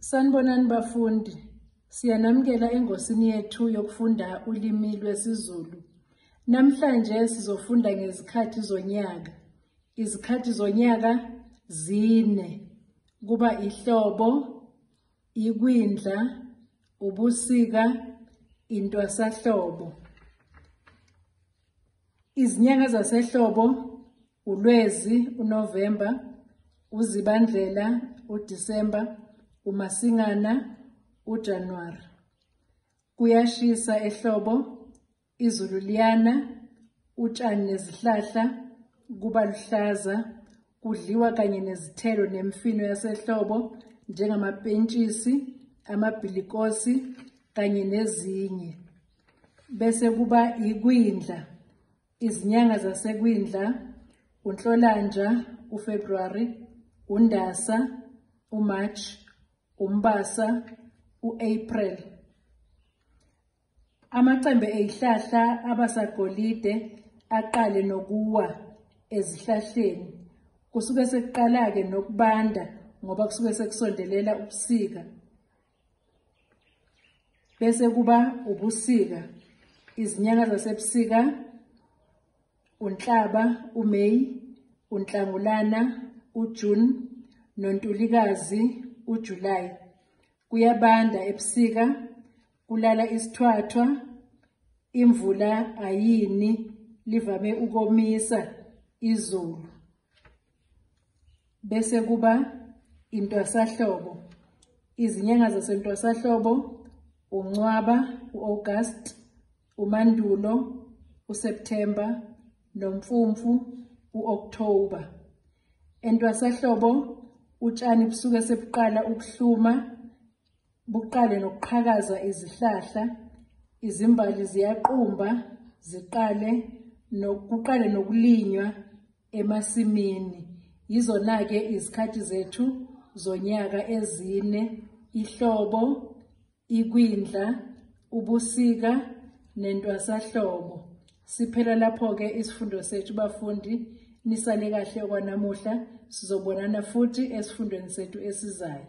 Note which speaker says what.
Speaker 1: Sanibonani bafundi. Siyanamukela engosini yethu yokufunda ulimi lwesiZulu. Namhlanje sizofunda ngezikhathi zonyaka. Izikhathi zonyaka zine. Kuba ihlobo, ikwindla, ubusika, intwasahlobo. Izinyanga zasehlobo uLwezi, uNovemba, uZibandlela, uDisemba, uMasingana, uJanuwari. Kuyashisa ehlobo Izulu liyana, utshani nezihlahla kuba luhlaza, kudliwa kanye nezithelo nemfino yasehlobo njengamapentshisi, amabhilikosi kanye nezinye. Bese kuba ikwindla, izinyanga zasekwindla, uNhlolanja, uFebruary, uNdasa, uMarch, uMbasa, uApril. Amacembe ezihlahla abasagolide aqale nokuwa ezihlahleni. Kusuke sekuqala-ke nokubanda ngoba kusuke sekusondelela ubusika. Bese kuba ubusika. Izinyanga zasebusika uNhlaba, uMay, uNhlangulana, uJune noNtulikazi, uJuly. Kuyabanda ebusika Kulala isithwathwa, imvula ayini livame ukomisa izulu. Bese kuba intwasahlobo. Izinyanga zasentwasahlobo uNcwaba, uAugust, uMandulo, uSeptember noMfumfu, uOctober. Entwasahlobo utshani busuke sebuqala ukuhluma Buqale nokuqhakaza izihlahla, izimbali ziyaqumba, ziqale nokuqale nokulinywa emasimini. Yizona-ke izikhathi zethu zonyaka ezine, ihlobo, ikwindla, ubusika nentwasahlobo. Siphela lapho-ke isifundo sethu bafundi, nisale kahle okwanamuhla, sizobonana futhi esifundweni sethu esizayo.